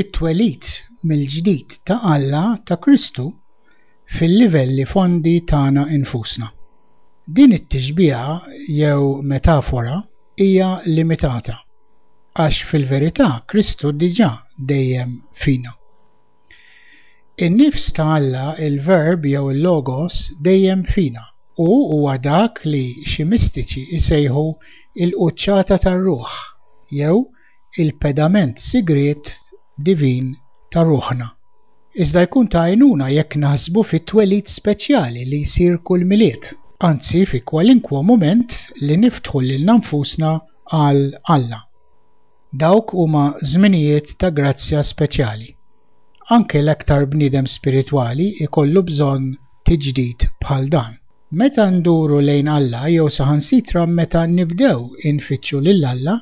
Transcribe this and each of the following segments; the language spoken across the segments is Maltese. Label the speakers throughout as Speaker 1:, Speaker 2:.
Speaker 1: it-twelid mill-ġdid ta' Alla ta' Kristu fil-livelli fondi tagħna nfusna. Din it-tixbiha jew metafora hija limitata, għax fil-verità Kristu diġà dejjem fina. In-nifs ta' Alla, il-Verb jew il-Logos dejjem fina, u huwa dak li xi mistiċi jsejħu l-quċċata tar-ruħ jew il-pedament sigriet divin ta' ruħna, iżda jkun ta' għajnuna jekk naħsbu fit-twelid speċjali li jsir kull Milied, anzi fi kwalinkwa mument li niftħu lilna nfusna għal Alla. Dawk huma żminijiet ta' grazzja speċjali. Anke l-aktar bniedem spiritwali jkollu bżonn tiġdid bħal dan. Meta nduru lejn Alla jew saħansitra meta nibdew infittxu lil Alla,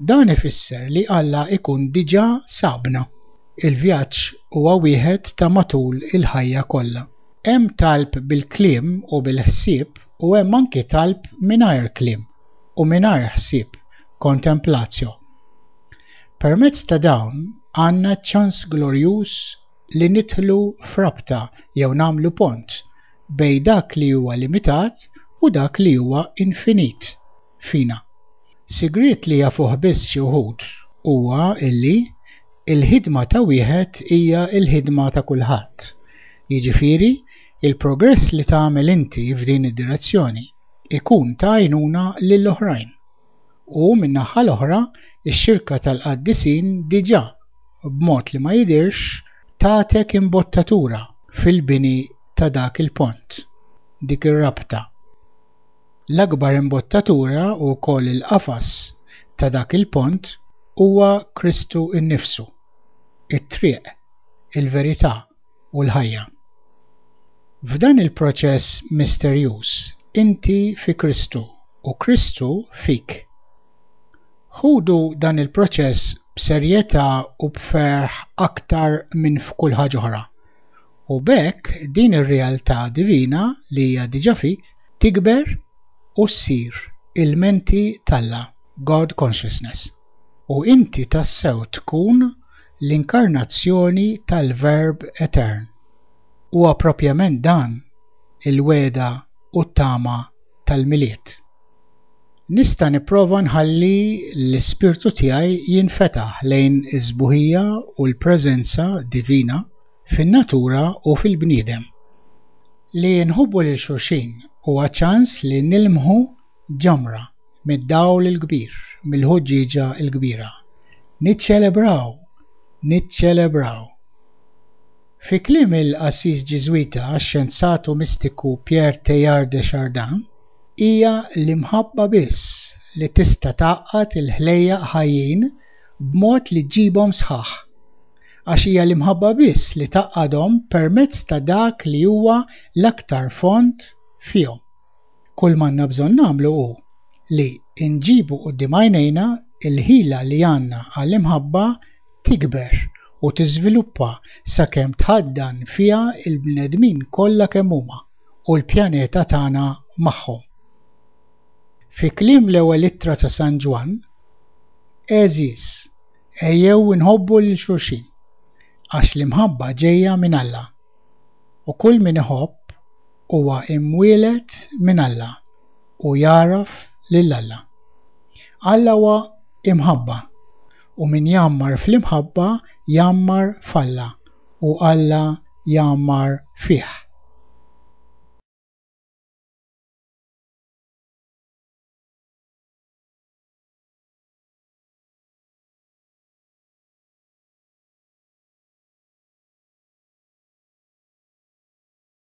Speaker 1: dan ifisser li Alla jkun diġà sabna. Il-vjaġġ huwa wieħed ta' matul il-ħajja kollha. Hemm talb bil-kliem u bil-ħsieb u hemm anki talb mingħajr kliem u mingħajr ħsieb, contemplatio. Permezz ta' dawn għandna ċ-ċans glorjuż li nidħlu f'rabta jew nagħmlu pont bejn dak li huwa limitat u dak li huwa infinit fina. Sigriet li jafuh biss xi wħud huwa li l-ħidma ta' wieħed hija l-ħidma ta' kulħadd. Jiġifieri, il-progress li tagħmel inti f'din id-direzzjoni jkun ta' għajnuna lill-oħrajn. u, min-naħa l-oħra, ix-Xirka tal-Qaddisin diġà, b'mod li ma jidhirx, tatek imbottatura fil-bini ta' dak il-pont, dik ir-rabta. L-akbar imbottatura u wkoll il-qafas ta' dak il-pont huwa Kristu nnifsu, it-Triq, il-Verità u l-ħajja. F'dan il-proċess misterjuż inti fi Kristu u Kristu fik. Ħudu dan il-proċess b'serjetà u b'ferħ aktar minn f'kull ħaġa oħra, u b'hekk din ir-realtà divina li hija diġà fik tikber u ssir il-menti t'Alla, God Consciousness, u inti tassew tkun L-inkarnazzjoni tal-Verb etern. Huwa proprjament dan il-wegħda u t-tama tal-Milied. Nista' nipprova nħalli l-ispirtu tiegħi jinfetaħ lejn is-sbuħija u l-preżenza divina fin-natura u fil-bniedem. Li nħobbu lil xulxin huwa ċans li nilmħu ġamra mid-dawl il-kbir, mill-ħuġġieġa l-kbira. Niċċelebraw! Niċċelebraw! Fi kliem il-qassis Ġiżwita xjenzat u mistiku Pierre Teilhard de Chardin, hija l-imħabba biss li tista' tgħaqqad il-ħlejjaq ħajjin b'mod li ġġibhom sħaħ. Għax hija l-imħabba biss li tgħaqqadhom permezz ta' dak li huwa l-aktar fond fihom. Kull m'għandna bżonn nagħmlu hu li nġibu quddiem għajnejna l-ħila li għandna għall-imħabba tikber u tiżviluppa sakemm tħaddan fiha l-bnedmin kollha kemm huma, u l-pjaneta tagħna magħhom. Fi kliem l-Ewwel Ittra ta' San Ġwann, Għeżież, ejjew inħobbu lil xulxin, għax l-imħabba ġejja minn Alla, u kull min iħobb huwa imwieled minn Alla u jagħraf lil Alla. Alla huwa imħabba, u min jgħammar fl-imħabba jgħammar f'Alla u Alla jgħammar fih.